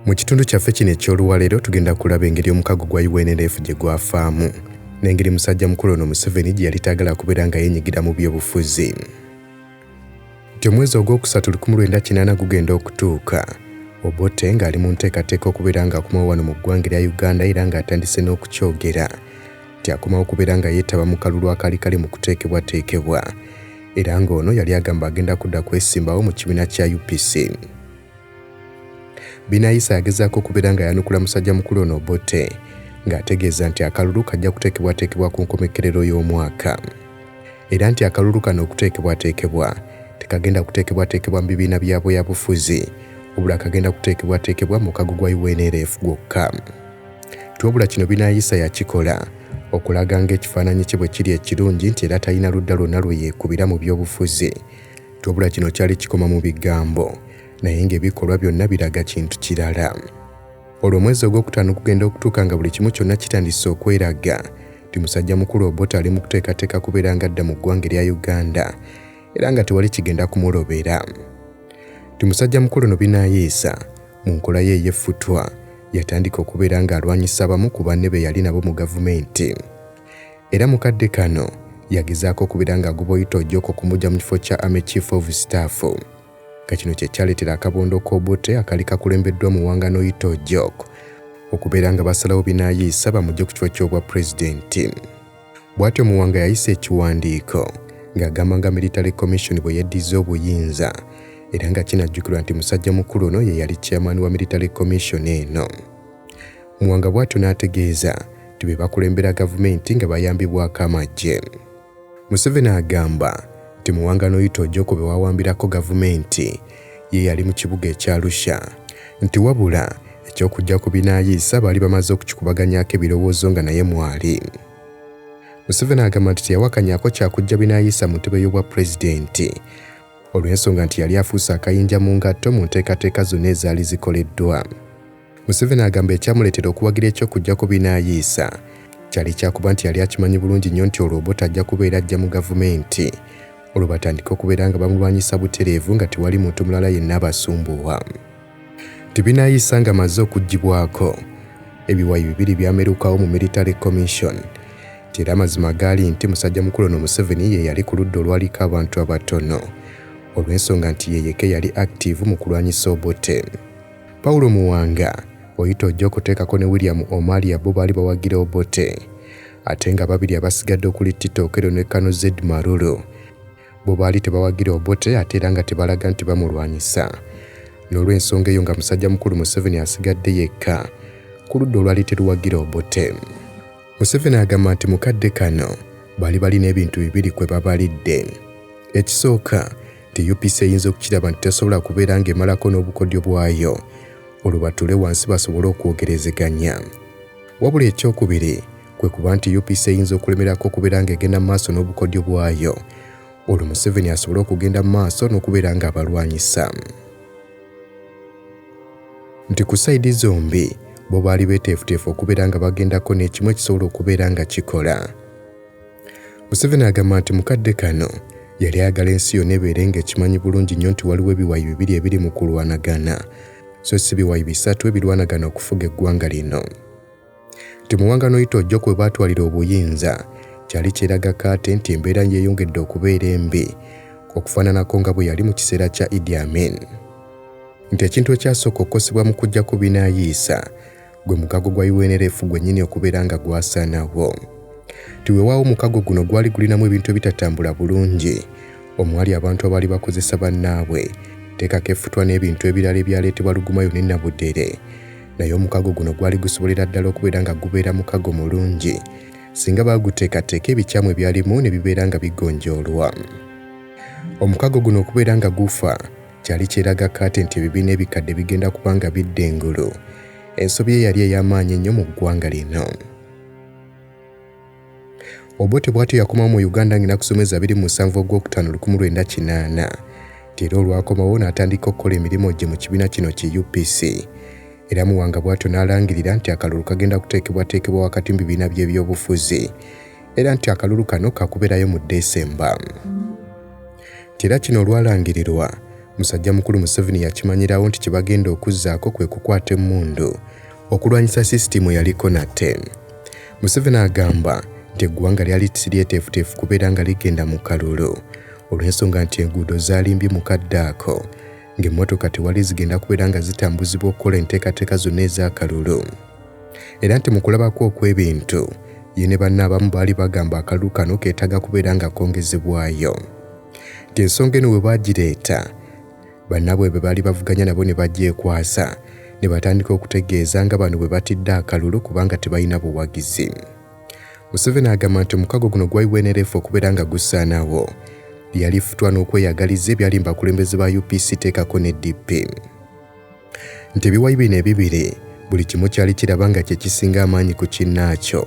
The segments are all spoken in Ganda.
mu kitundu kyaffe kino eky'oluwaleero tugenda kulaba engeri omukago gwa unlf gye gwafaamu n'engeri musajja mukulu ono museveni gye yali taagala kubeera nga yenyigira mu byobufuzi nti omwezi ogwokusatu 19 gugenda okutuuka obote ng'ali mu nteekateeka okubeera ng'akomawo wano mu ggwanga erya uganda era ng'atandise n'okukyogera nti akomawo kubeera nga yeetaba mu kalulu akaali kali mu kuteekebwateekebwa era ng'ono yali agamba agenda kudda kwesimbawo mu kibiina kya UPC. Binayisa yagezaako okubeera nga yanukula musajja mukulu ono Obote ng'ategeeza nti akalulu kajja kuteekebwateekebwa ku nkomekerero y'omwaka era nti akalulu kano okuteekebwateekebwa tekagenda kuteekebwateekebwa mu bibiina bya bweyabufuzi wabula kagenda kuteekebwateekebwa mu kago gwa UNLF gwokka. nti wabula kino binayisa yakikola okulaga ng'ekifaananyi kye bwe kiri ekirungi nti era talina ludda lwonna lwe yeekubira mu by'obufuzi nti wabula kino kyali kikoma mu bigambo naye ng'ebikolwa byonna biraga kintu kirala olwo omwezi ogw'okutaano gugenda okutuuka nga buli kimu kyonna kitandise okweraga nti musajja mukulu obota ali mu kuteekateeka kubeera nga adda mu ggwanga erya uganda era nga tewali kigenda kumulobera ti musajja mukulu no binayiisa mu nkola ye ey'effutwa yatandika okubeera ng'alwanyisa abamu ku banne be yali nabo mu gavumenti era mu kadde kano yagezaako okubeera ng'agoba oyita ojoko okumugya mu kifo kya ame chief of staff nga kino kye kyaleetera akabondo k'obote akali kakulembeddwa mu wanga n'oyita ojok okubeera nga basalawo binayiisa bamugye ku kifo ky'obwa pulezidenti Bw'atyo Muwanga yayisa ekiwandiiko ng'agamba nga Military Commission bwe yeddizza obuyinza era nga kinajjukirwa nti musajja mukulu ono ye yali chairman wa Military Commission eno. Muwanga bw'atyo n'ategeeza nti be bakulembera gavumenti nga bayambibwako amagye. Museveni agamba nti Muwanga n'oyita ojja okubewawambirako gavumenti ye yali mu kibuga ekya Arusha nti wabula eky'okujja ku binaayiisa baali bamaze okukikubaganyaako ebirowoozo nga naye mwali. Museveni agamba nti teyawakanyako kyakujja binaayiisa mu ntebe y'obwa pulezidenti olw'ensonga nti yali afuuse akayinja mu ngatto mu nteekateeka zonna ezaali zikoleddwa. Museveni agamba ekyamuleetera okuwagira eky'okuggyako binaayiisa kyali kyakuba nti yali akimanyi bulungi nnyo nti olwo Obote ajja kubeera ajja mu gavumenti olwo batandike okubeera nga bamulwanyisa butereevu nga tewali muntu mulala yenna abasumbuwa nti binaayiisa nga maze okuggibwako ebiwayi bibiri byamerukawo mu military commission nti era amazima gaali nti musajja mukulu ono Museveni ye yali ku ludda olwaliko abantu abatono olw'ensonga nti yeyeke yali active mu kulwanyisa Obote. Paulo Muwanga, oyita ojja okuteekako ne William Omalia bo baali bawagira Obote ate nga babiri abasigadde okuli Tito Okello ne Kano Zed Maruru bo baali tebawagira Obote ate era nga tebalaga nti bamulwanyisa. N'olw'ensonga eyo nga musajja mukulu Museveni asigadde yekka ku ludda olwali teruwagira Obote. Museveni agamba nti mu kadde kano baali balina ebintu bibiri kwe babalidde. Ekisooka nti UPC eyinza okukiraba nti tesobola kubeera ng'emalako n'obukodyo bwayo olwo batuule wansi basobole okwogerezeganya. Wabula ekyokubiri kwe kuba nti UPC eyinza okulemerako okubeera ng'egenda mu maaso n'obukodyo bwayo olwo Museveni asobole okugenda mu maaso n'okubeera ng'abalwanyisa. nti ku sayidi zombi bo baali beeteefuteefu okubeera nga bagendako n'ekimu ekisobola okubeera nga kikola museveni agamba nti mu kadde kano yali ayagala ensi yonna ebeere ng'ekimanyi bulungi nnyo nti waliwo ebiwayi bibiri ebiri mu kulwanagana so si biwayi bisatu ebirwanagana okufuga eggwanga lino nti mu wanga n'oyitojjo kwe baatwalira obuyinza kyali kyeraga kaate nti embeera yeeyongedde okubeera embi okufaananako nga bwe yali mu kiseera kya Idi Amin nti ekintu ekyasooka okukosebwa mu kujjako binaayiisa gwe mukago gwa UNLF gwennyini okubeera nga gwasaanawo nti wewaawo omukago guno gwali gulinamu ebintu ebitatambula bulungi omwali abantu abaali bakozesa bannaabwe teekako efutwa n'ebintu ebirala ebyaleetebwa lugumayo ne nabudere naye omukago guno gwali gusobolera ddala okubeera nga gubeera mukago mulungi singa baaguteekateeka ebikyamu ebyalimu ne bibeera nga bigonjoolwa omukago guno okubeera nga gufa kyali kyeraga kaate nti ebibiina ebikadde bigenda kuba nga bidda engulu ensobi eyali ey'amaanyi ennyo mu ggwanga lino Obote bwatyo yakomawo mu Uganda ng'enakusomeza abiri mu musanvu ogwokutaano lukumu lwenda kinaana nti era olwakomawo n'atandika okukola emirimu gye mu kibiina kino ki UPC era Muwanga bwatyo n'alangirira nti akalulu kagenda kuteekebwateekebwa wakati mu bibiina by'ebyobufuzi era nti akalulu kano kakubeerayo mu Desemba nti era kino olwalangirirwa musajja mukulu Museveni yakimanyirawo nti kye bagenda okuzzaako kwe kukwata emmundu okulwanyisa sisitimu yaliko nate. Museveni agamba nti eggwanga lyali siryeteefuteefu kubeera nga ligenda mu kalulu olw'ensonga nti enguudo zaalimbye mu kadde ako ng'emmotoka tewali zigenda kubeera nga zitambuzibwa okukola enteekateeka zonna ez'akalulu era nti mu kulabako okw'ebintu ye ne banna abamu baali bagamba akalulu kano keetaaga kubeera nga kongezebwayo ng'ensonga eno bwe baagireeta Bannabwe be baali bavuganya nabo ne bagyekwasa ne batandika okutegeeza nga bano bwe batidde akalulu kubanga tebalina buwagizi. Museveni agamba nti omukago guno gwa UNLF okubeera nga gusaanawo yali futwa n'okweyagaliza ebyalimba abakulembeze ba UPC teekako ne DP nti ebiwayi bino ebibiri buli kimu kyali kiraba nga kye kisinga amaanyi ku kinnaakyo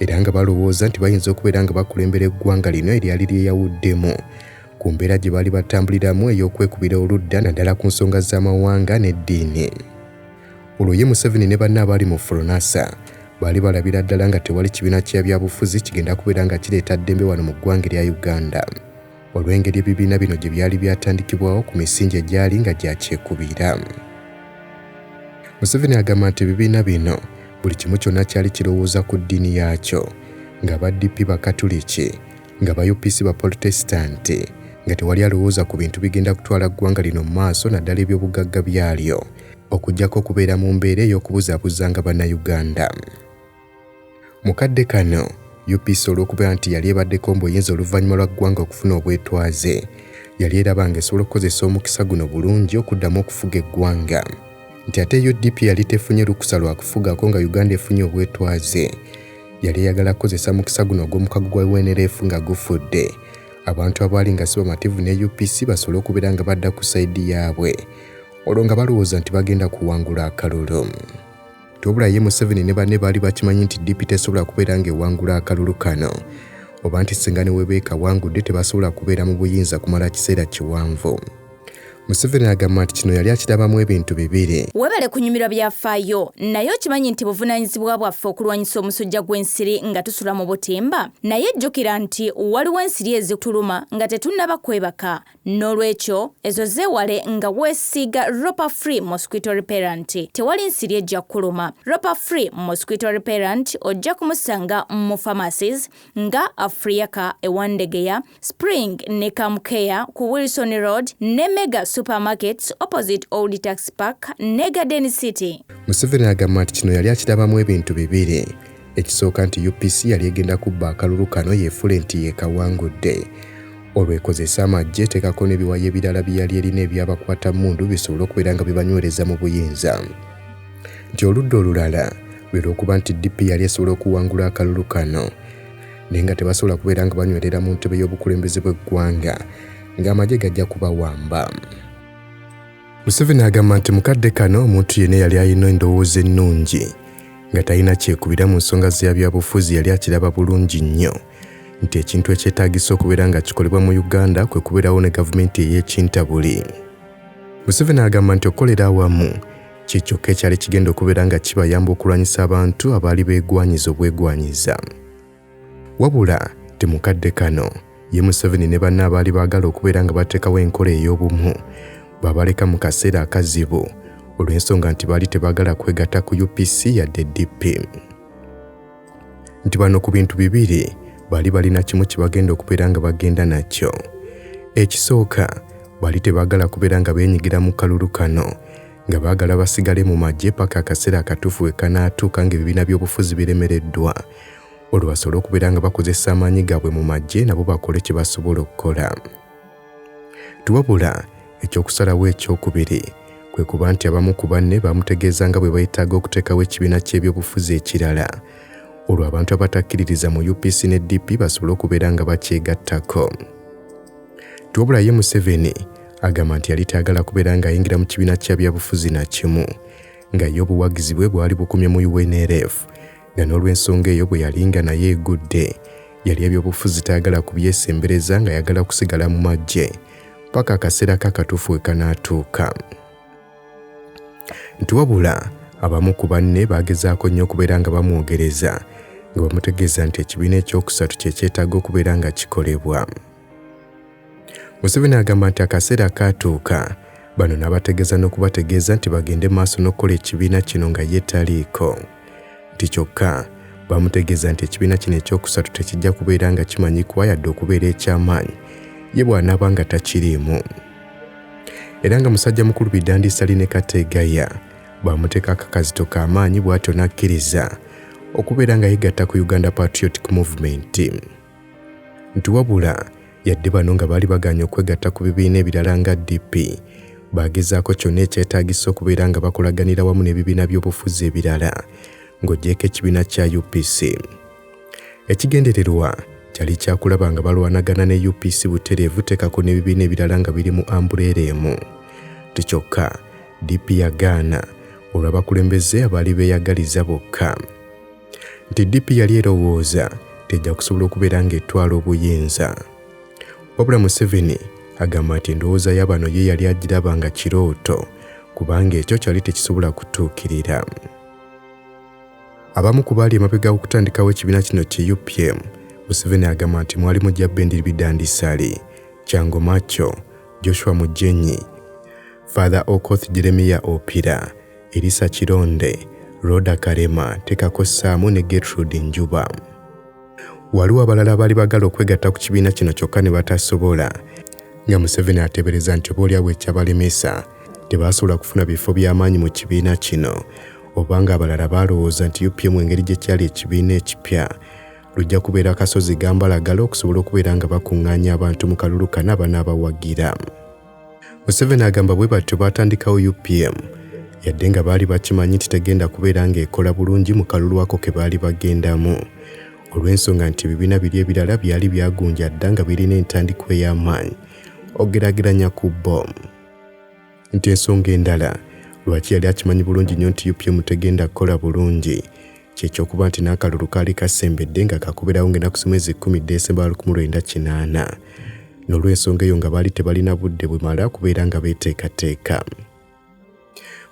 era nga balowooza nti bayinza okubeera nga bakulembera eggwanga lino eryali lyeyawuddemu ku mbeera gye baali batambuliramu ey'okwekubira oludda naddala ku nsonga z'amawanga n'eddiini olwo ye museveni ne banna abaali mu furonasa baali balabira ddala nga tewali kibiina kya byabufuzi kigenda kubeera nga kireeta ddembe wano mu ggwanga erya uganda olw'engeri ebibiina bino gye byali byatandikibwawo ku misingi egyali nga gyakyekubiira museveni agamba nti ebibiina bino buli kimu kyonna kyali kirowooza ku ddiini yaakyo nga ba dp bakatuliki nga ba UPC ba Polotesitanti nga tewali alowooza ku bintu bigenda kutwala ggwanga lino mu maaso naddala ebyobugagga byalyo okujjako okubeera mu mbeera ey'okubuzabuzanga bannayuganda mu kadde kano UPC olw'okubeera nti yali ebaddeko mu buyinza oluvannyuma lwa ggwanga okufuna obwetwaze yali eraba nga esobola okukozesa omukisa guno bulungi okuddamu okufuga eggwanga nti ate UDP yali tefunye lukusa lwa kufugako nga Uganda efunye obwetwaze yali eyagala kukozesa mukisa guno ogw'omukago gwa UNLF nga gufudde abantu abaali nga si bamativu ne UPC basobole okubeera nga badda ku sayidi yaabwe olwo nga balowooza nti bagenda kuwangula akalulu tobula ye Museveni ne banne baali bakimanyi nti DP tesobola kubeera ng'ewangula akalulu kano oba nti singa ne webeekawangudde tebasobola kubeera mu buyinza kumala kiseera kiwanvu Museveni agamba nti kino yali akirabamu ebintu bibiri. Webale kunyumirwa byafaayo, naye okimanyi nti buvunaanyizibwa bwaffe okulwanyisa omusujja gw'ensiri nga tusula mu butimba? Naye jjukira nti waliwo ensiri ezituluma nga tetunnaba kwebaka. N'olwekyo, ezo zeewale nga weesiiga Ropa Free Mosquito Repellent. Tewali nsiri ejja kukuluma. Ropa Free Mosquito Repellent ojja kumusanga mu pharmacies nga Afriaca e Wandegeya, Spring ne Camcare ku Wilson Road ne Mega Supermarkets opposite Old Tax Park ne Garden City. Museveni agamba nti kino yali akirabamu ebintu bibiri. Ekisooka nti UPC yali egenda kubba akalulu kano yeefule nti yeekawangudde. Olwo ekozese amagye eteekako n'ebiwayi ebirala bye yali erina ebyabakwata mmundu bisobole okubeera nga bibanywereza mu buyinza. Nti oludda olulala lwe lw'okuba nti DP yali esobola okuwangula akalulu kano naye nga tebasobola kubeera nga banywerera mu ntebe y'obukulembeze bw'eggwanga ng'amagye gajja kubawamba museveni agamba nti mukadde kano omuntu yenna yali alina endowooza ennungi nga talina kyekubira mu nsonga za byabufuzi yali akiraba bulungi nnyo nti ekintu ekyetaagisa okubeera nga kikolebwa mu uganda kwe kubeerawo ne gavumenti ey'ekintabuli museveni agamba nti okukolera awamu Kye kyokka ekyali kigenda okubeera nga kibayamba okulwanyisa abantu abaali beegwanyiza obwegwanyiza. Wabula temukadde kano ye Museveni ne banne abaali baagala okubeera nga bateekawo enkola ey'obumu babaleka mu kaseera akazibu olw'ensonga nti baali tebaagala kwegatta ku UPC yadde DP. nti bano ku bintu bibiri bali balina kimu kye bagenda okubeera nga bagenda nakyo ekisooka bali tebaagala kubeera nga beenyigira mu kalulu kano nga baagala basigale mu magye paka akaseera akatuufu we kanaatuuka ng'ebibiina by'obufuzi biremereddwa olwo basobole okubeera nga bakozesa amaanyi gaabwe mu magye nabo bakole kye basobola okukola Wabula ekyokusalawo ekyokubiri kwe kuba nti abamu ku banne baamutegeeza nga bwe beetaaga okuteekawo ekibiina ky'ebyobufuzi ekirala olwo abantu abatakkiririza mu UPC ne DP basobole okubeera nga bakyegattako. Wabula ye Museveni agamba nti yali tayagala kubeera ng'ayingira mu kibiina kya byabufuzi na kimu nga ye obuwagizi bwe bwali bukomye mu UNLF nga n'olw'ensonga eyo bwe yali nga naye egudde yali ebyobufuzi tayagala kubyesembereza nga yagala kusigala mu maggye paka akaseera ke akatuufu we kanaatuuka nti wabula abamu ku banne baagezaako nnyo okubeera nga bamwogereza nga bamutegeeza nti ekibiina ekyokusatu kye kyetaaga okubeera nga kikolebwa Museveni agamba nti akaseera kaatuuka bano n'abategeeza n'okubategeeza nti bagende maaso n'okukola ekibiina kino nga ye taliiko nti kyokka bamutegeeza nti ekibiina kino ekyokusatu tekijja kubeera nga kimanyikwa yadde okubeera eky'amaanyi ye bw'anaaba nga takiriimu era nga musajja mukulu bidandisali ne kateegaya baamuteeka akakazito k'amaanyi bw'atyo n'akkiriza okubeera nga yegatta ku uganda patriotic movement nti wabula yadde bano nga baali bagaanye okwegatta ku bibiina ebirala nga DP baagezaako kyonna ekyetaagisa okubeera nga bakolaganira wamu n'ebibiina by'obufuzi ebirala ng'ogyeko ekibiina kya UPC. Ekigendererwa kyali kyakulaba nga balwanagana ne UPC butereevu tekako n'ebibiina ebirala nga biri mu ambuleera emu. Tikyokka DP yagaana olw'abakulembeze abaali beeyagaliza bokka. nti DP yali erowooza tejja kusobola okubeera ng'etwala obuyinza. Wabula Museveni agamba nti endowooza ya bano ye yali agiraba nga kirooto kubanga ekyo kyali tekisobola kutuukirira. Abamu ku baali emabega okutandikawo ekibiina kino ki UPM, Museveni agamba nti mwalimu Jabbendi Bidandisali, Kyango Macho, Joshua Mujenyi, Father Okoth Jeremiya Opira, Erisa Kironde, Rhoda Kalema tekako ssaamu ne Gertrude Njuba. Waliwo abalala abaali bagala okwegatta ku kibiina kino kyokka ne batasobola nga Museveni ateebereza nti oboolyawo ekyabalemesa tebaasobola kufuna bifo by'amaanyi mu kibiina kino oba ng'abalala baalowooza nti UPM engeri gye kyali ekibiina ekipya lujja kubeera akasozi gambalagala okusobola okubeera nga bakuŋŋaanya abantu mu kalulu kana abanaabawagira. Museveni agamba bwe batyo baatandikawo UPM yadde nga baali bakimanyi nti tegenda kubeera ng'ekola bulungi mu kalulu ako ke baali bagendamu olw'ensonga nti ebibiina biri ebirala byali byagunja dda nga birina entandikwa ey'amaanyi ogeraageranya ku bom nti ensonga endala lwaki yali akimanyi bulungi nnyo nti UPM tegenda kukola bulungi kyekyokuba nti n'akalulu kaali kasembedde nga kakubirawo ng'ennaku zimu ezikkumi ddesemba wa lukumu lwenda kinaana n'olw'ensonga eyo nga baali tebalina budde bumala kubeera nga beeteekateeka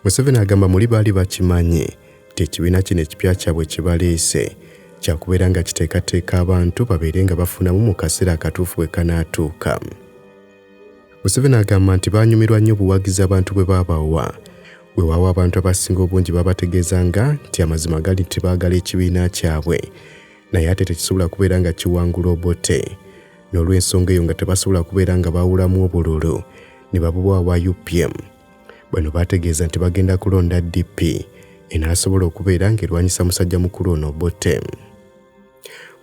museveni agamba muli baali bakimanyi nti ekibiina kino ekipya kyabwe kibaleese kyakubeera nga kiteekateeka abantu babeere nga bafunamu mu kaseera akatuufu bwe kanaatuuka Museveni agamba nti baanyumirwa nnyo obuwagizi abantu bwe baabawa weewaawo abantu abasinga obungi babategeezanga nti amazima gali nti baagala ekibiina kyabwe naye ate tekisobola kubeera nga kiwangula obote n'olw'ensonga eyo nga tebasobola kubeera nga baawulamu obululu ne babuwa wa upm bano baategeeza nti bagenda kulonda dp enaasobola okubeera ng'erwanyisa musajja mukulu ono obote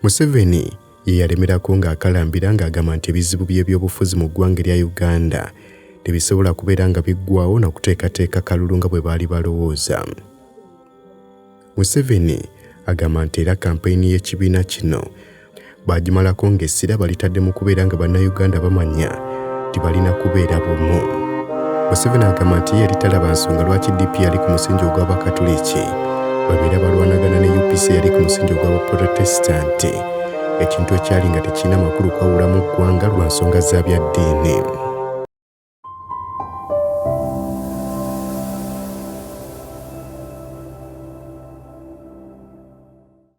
Museveni ye yalemerako ng'akalambira ng'agamba nti ebizibu by'ebyobufuzi mu ggwanga erya Uganda tebisobola kubeera nga biggwawo na kuteekateeka kalulu nga bwe baali balowooza. Museveni agamba nti era kampeyini y'ekibiina kino baagimalako ng'essira balitadde mu kubeera nga Bannayuganda bamanya nti balina kubeera bumu. Museveni agamba nti ye yali talaba nsonga lwaki DP yali ku musingi ogw'Abakatuliki babeera balwanagana ne UPC yali ku musingi ogw'Abaprotestanti ekintu ekyali nga tekirina makulu kwawulamu ggwanga lwa nsonga za bya ddiini.